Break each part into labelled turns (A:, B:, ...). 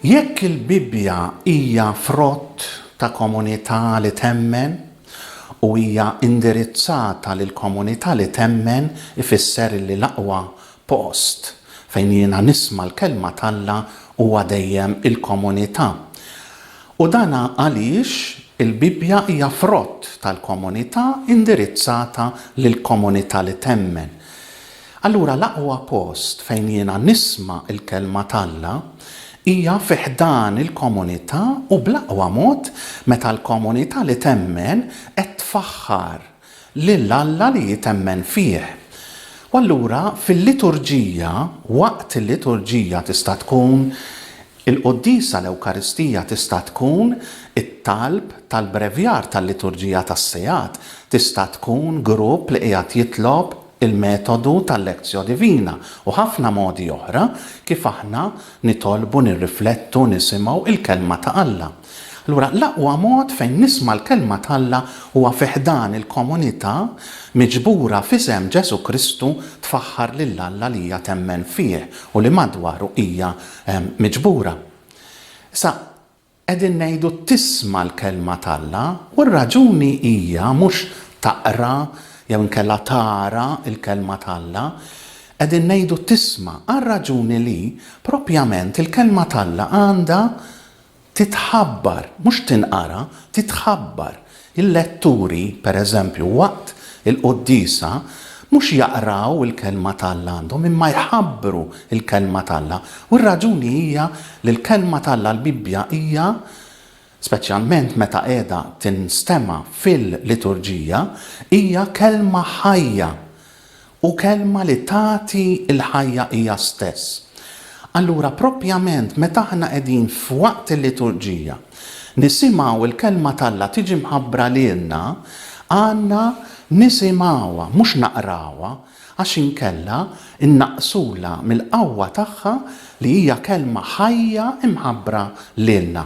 A: Jekk il-Bibbja hija frott ta' komunità li temmen u hija indirizzata lill-komunità li temmen, ifisser li l-aqwa post fejn jiena nisma' l-kelma t'Alla huwa dejjem il-komunità. U dan għaliex il-Bibbja hija frott tal-komunità indirizzata lill-komunità li temmen. Allura l-aqwa post fejn jiena nisma' l-kelma t'Alla hija fi ħdan il-komunità u bl-aqwa mod meta l-komunità li temmen qed tfaħħar lil Alla li jitemmen fih. U allura fil-liturġija, waqt il-liturġija tista' tkun il-quddiesa tal-Ewkaristija tista' tkun it-talb tal-brevjar tal-liturġija tas-sigħat, tista' tkun grupp li qiegħed jitlob, il-metodu tal-Lectio Divina u ħafna modi oħra kif aħna nitolbu, nirriflettu, nisimgħu il-Kelma ta' Alla. Allura l-aqwa mod fejn nisma' l-Kelma t'Alla huwa fi ħdan il-komunità miġbura f'isem Ġesù Kristu tfaħħar lil Alla li hija temmen fih u li madwaru hija miġbura. Issa, Qegħdin ngħidu tisma' l-Kelma t'Alla u r-raġuni hija mhux taqra jew inkella tara l-Kelma t'Alla. Qegħdin ngħidu tisma' għar-raġuni li, proprjament, il-Kelma t'Alla għandha titħabbar, mhux tinqara, titħabbar. Il-letturi, pereżempju, waqt il-quddiesa mhux jaqraw il-Kelma t'Alla għandhom, imma jħabbru l-Kelma t'Alla. U r-raġuni hija li l-Kelma t'Alla, l-Bibbja, hija, speċjalment meta qiegħda tinstema' fil-liturġija, hija Kelma ħajja U kelma li tagħti l-ħajja hija stess. Allura proprjament meta aħna qegħdin f'waqt il-liturġija nisimgħu l-kelma t'Alla tiġi mħabbra lilna, għandna nisimgħuha mhux naqrawha għax inkella nnaqqsulha mill-qawwa tagħha li hija kelma ħajja mħabbra lilna.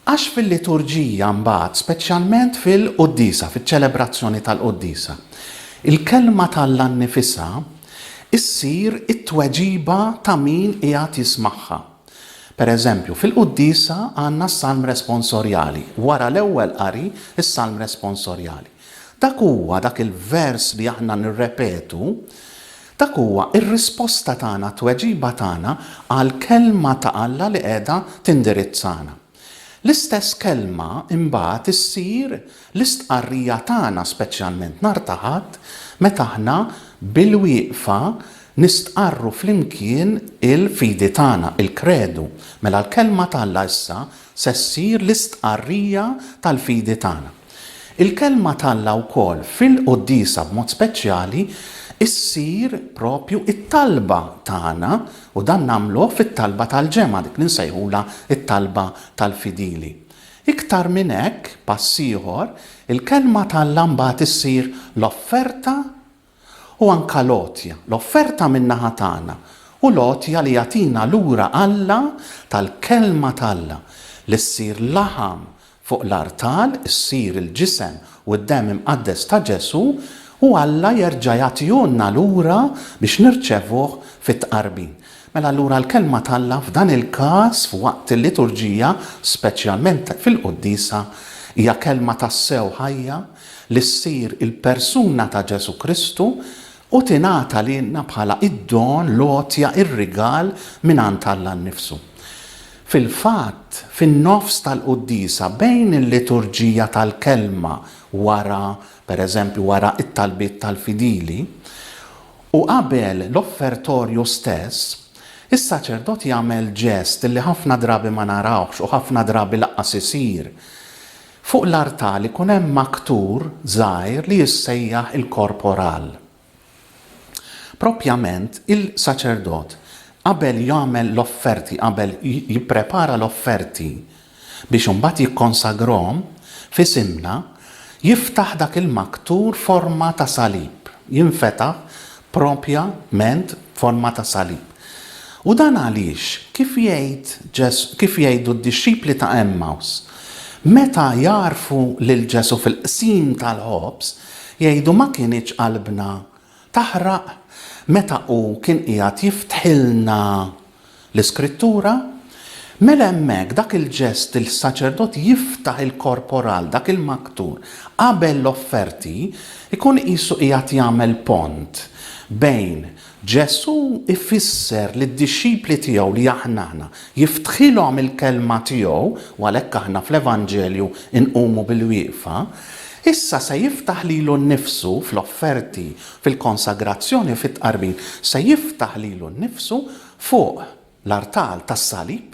A: Għax fil-liturġija mbagħad, speċjalment fil-quddiesa, fiċ-ċelebrazzjoni tal-quddiesa, il-kelma t'Alla nnifisha ssir it-tweġiba ta' min qiegħed jismagħha. Pereżempju, fil-quddiesa għandna s-Salm Responsorjali, wara l-ewwel qari, is-Salm Responsorjali. Dak huwa, dak il-vers li aħna nirrepetu, Dak huwa r-risposta tagħna, t-tweġiba tagħna għall-Kelma ta' Alla li qiegħda tindirizzana. L-istess Kelma imbagħad issir l-istqarrija tagħna speċjalment nhar ta' Ħadd meta aħna bil-wieqfa nistqarru flimkien il-fidi tagħna, il-Kredu. Mela l-Kelma ta' Alla issa se ssir l-istqarrija tal-fidi tagħna. Il-Kelma t'Alla wkoll fil-quddiesa b'mod speċjali ssir proprju t-talba tagħna u dan nagħmluh fit-talba tal-ġemgħa, dik li nsejħulha t-talba tal-fidili. Iktar minn hekk, pass ieħor, il-Kelma t'Alla mbagħad issir l-offerta u anke l-għotja, l-offerta min-naħa tagħna, u l-għotja li jagħtina lura Alla tal-Kelma t'Alla li ssir laħam fuq l-artal, issir il-ġisem u d-demm imqaddes ta' Ġesù, u Alla jerġa' jagħtihulna lura biex nirċevuh fit-Tqarbin. Mela allura l-Kelma t'Alla f'dan il-każ f'waqt il-liturġija, speċjalment fil-quddiesa, hija Kelma tassew ħajja, li ssir il-persuna ta' Ġesù Kristu u tingħata lilna bħala d-don, l-għotja, ir-rigal mingħand Alla nnifsu. Fil-fatt, fin-nofs tal-quddiesa, bejn il-liturġija tal-Kelma wara, per eżempju, wara t-talbiet tal-fidili, u qabel l-offertorju stess, is-saċerdot jagħmel ġest li ħafna drabi ma narawhx u ħafna drabi lanqas isir, Fuq l-artal ikun hemm maktur żgħir li jissejjaħ il-korporal. Proprjament, il-saċerdot, qabel jagħmel l-offerti, qabel jipprepara l-offerti biex imbagħad jikkonsagrahom f'isimna, jiftaħ dak il-maktur forma ta' salib, jinfetaħ propja ment b'forma ta' salib. U dan għaliex, kif jgħid Ġes kif jgħidu d-dixxipli ta' Għemmaws, meta jagħrfu lil Ġesù fil-qsim tal-ħobż, jgħidu ma kinitx qalbna taħraq meta hu kien qiegħed jiftħilna l-Iskrittura, mela hemmhekk dak il-ġest li s-saċerdot jiftaħ il-korporal, dak il-maktur, qabel l-offerti, ikun qisu qiegħed jagħmel pont bejn Ġesù jfisser lid-dixxipli tiegħu li aħna aħna, jiftħilhom il-kelma tiegħu, u għalhekk aħna fl-Evanġelju nqumu bilwieqfa, issa se jiftaħ lilu nnifsu fl-offerti fil-konsagrazzjoni u fit-tqarbin, se jiftaħ lilu nnifsu fuq l-artal tas-salib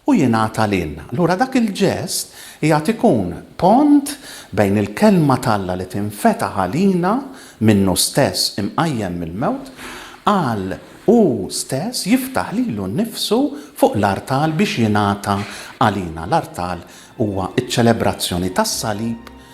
A: u jingħata lilna. Allura dak il-ġest qiegħed ikun pont bejn il-Kelma t'Alla li tinfetaħ għalina minnu stess imqajjem mill-mewt għal hu stess jiftaħ lilu nnifsu fuq l-artal biex jingħata għalina. L-artal huwa ċ-ċelebrazzjoni tas-salib,